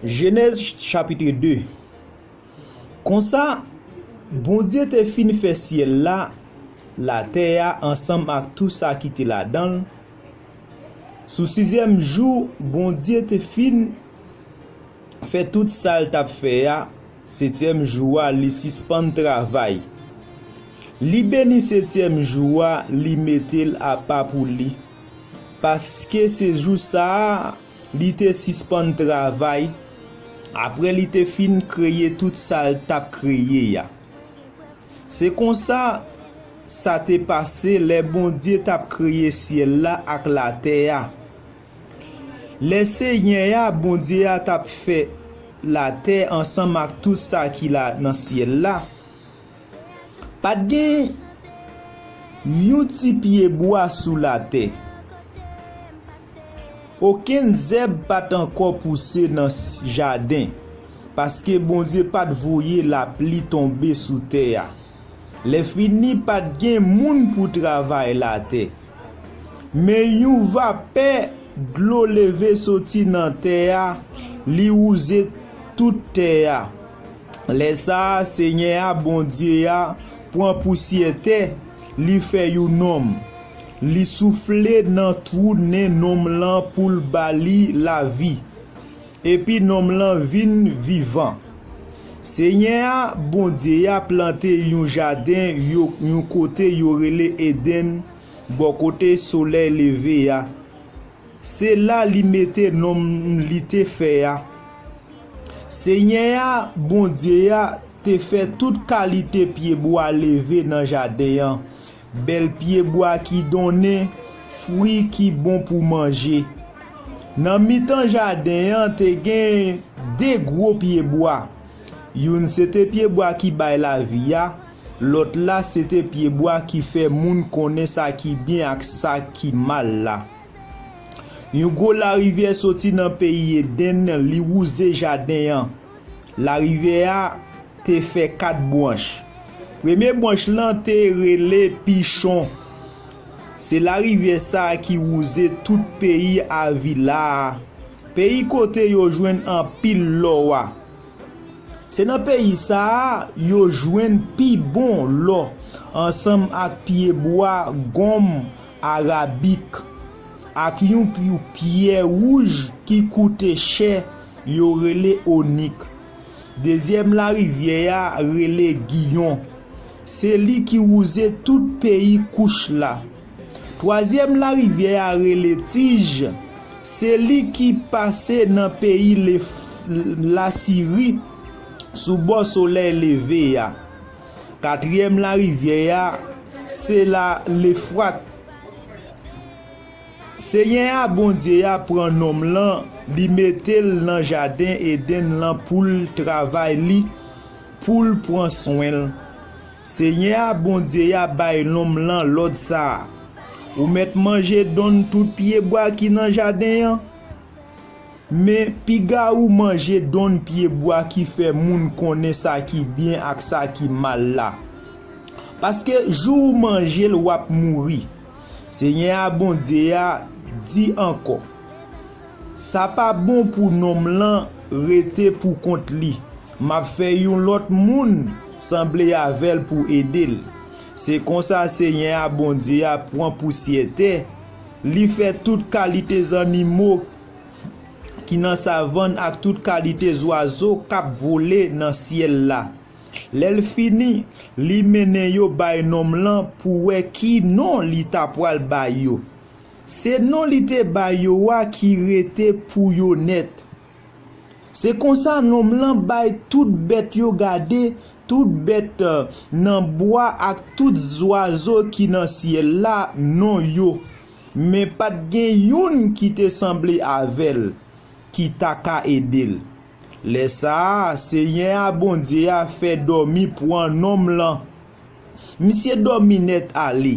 Jenèz chapitre 2 Konsa, Bondye te fin fè syèl la, latè a ansanm ak tou sa ki te ladan l, sou sizyèm jou Bondye te fin fè tout sa l t ap fè a, setyèm jou a li sispann travay. Li beni setyèm jou a li mete l apa pou li, paske se jou sa a Li te sispann travay apre li te fin kreye tout sa l t ap kreye a. Se konsa, sa te pase lè Bondye t ap kreye syèl la ak latè a. Lè Senyè a, Bondye a, t ap fè latè ansanm ak tout sa ki nan syèl la, Pat gen Yon ti pye bwa sou latè. Okenn zèb pat ankò pouse nan jaden, paske Bondye pat voye lapli tonbe sou tè a. Lèfini pat gen moun pou travay latè. Men yon vapè dlo leve soti nan tè a, li wouze tout tè a. Lè sa a, Senyè a, Bondye a, pran pousyè tè, li fè you nonm. Li soufle nan twou nen nonm lan pou l ba li lavi. Epi nonm lan vin vivan. Senyè a, Bondye a, plante you jaden you kote yo rele Edenn, bò kote solèy leve a. Se la li mete nonm li te fè a. Senyè a, Bondye a, te fè tout kalite pyebwa leve nan jaden an, bèl pyebwa ki donnen fwi ki bon pou manje. Nan mitan jaden an te gen de gwo pyebwa, youn se te pyebwa ki bay lavi a, lòt la se te pyebwa ki fè moun konnen sa ki byen ak sa ki mal la. Yon gwo larivyè soti nan peyi Edenn li wouze jaden an. Larivyè a te fè kat bwanch. Premye bwanch lan te rele Pichon. Se larivyè sa a ki wouze tout peyi Avila a, peyi kote yo jwenn anpil lò a. Se nan peyi sa a yo jwenn pi bon lò ansanm ak pyebwa gonm Arabik, ak yon pyou pyè wouj ki koute chè yo rele onik. Dezyèm larivyè a rele Giyon. Se li ki wouze tout peyi Kouch la. Twazyèm larivyè a rele Tij. Se li ki pase nan peyi Lasiri sou bò solèy leve a. Katriyèm larivyè a, se la Lefwat. Senyè a, Bondye a, pran nonm lan, li mete l nan jaden Edenn lan pou l travay li, pou l pran swen l. Senyè a, Bondye a, bay nonm lan lòd sa a, Ou mèt manje donn tout pyebwa ki nan jaden an. Men, piga ou manje donn pye bwa ki fè moun konnen sa ki byen ak sa ki mal la. Paske, jou ou manje l, w ap mouri. Senyè a Bondye a di ankò, Sa pa bon pou nonm lan rete poukont li. M ap fè yon lòt moun sanble avè l pou ede l. Se konsa Senyè a Bondye a pran pousyè tè, Li fè tout kalite zannimo ki nan savann ak tout kalite zwazo k ap vole nan syèl la. Lè l fini, li mennen yo bay nonm lan pou wè ki non li t apral bay yo. Se non li te bay yo a ki rete pou yo nèt. Se konsa nonm lan bay tout bèt yo gade, tout bèt nan bwa ak tout zwazo ki nan syèl la, non yo. Men pa t gen youn ki te sanble avè l, ki ta ka ede l. Lè sa a, Senyè a Bondye a fè dòmi pran nonm lan. Misye dòmi nèt ale.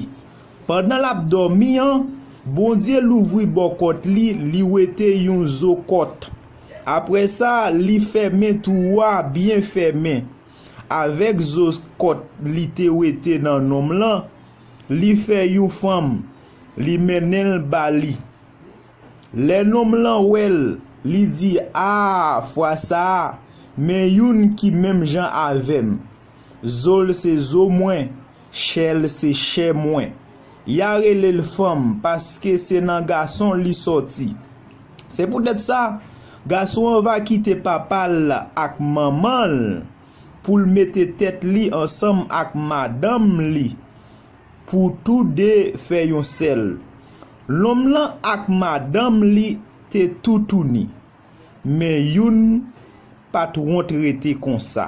Pandan l ap dòmi an, Bondye louvri bò kòt li, li wete yon zo kòt. Apre sa, li fèmen twou a byen fèmen. Avèk zo kòt li te wete nan nonm lan, li fè yon fanm, li mennen l ba li. Lè nonm lan wè l, li di, A, fwa sa a, men youn ki menm jan avè m. Zo l se zo mwen, chè l se chè mwen. Ya rele l fanm paske se nan gason li sòti. Se poutèt sa, gason an va kite papa l ak manman l pou l mete tèt li ansanm ak madanm li pou tou de fè yon sèl. Lòm lan ak madanm li te toutouni, men youn pa t wont rete konsa.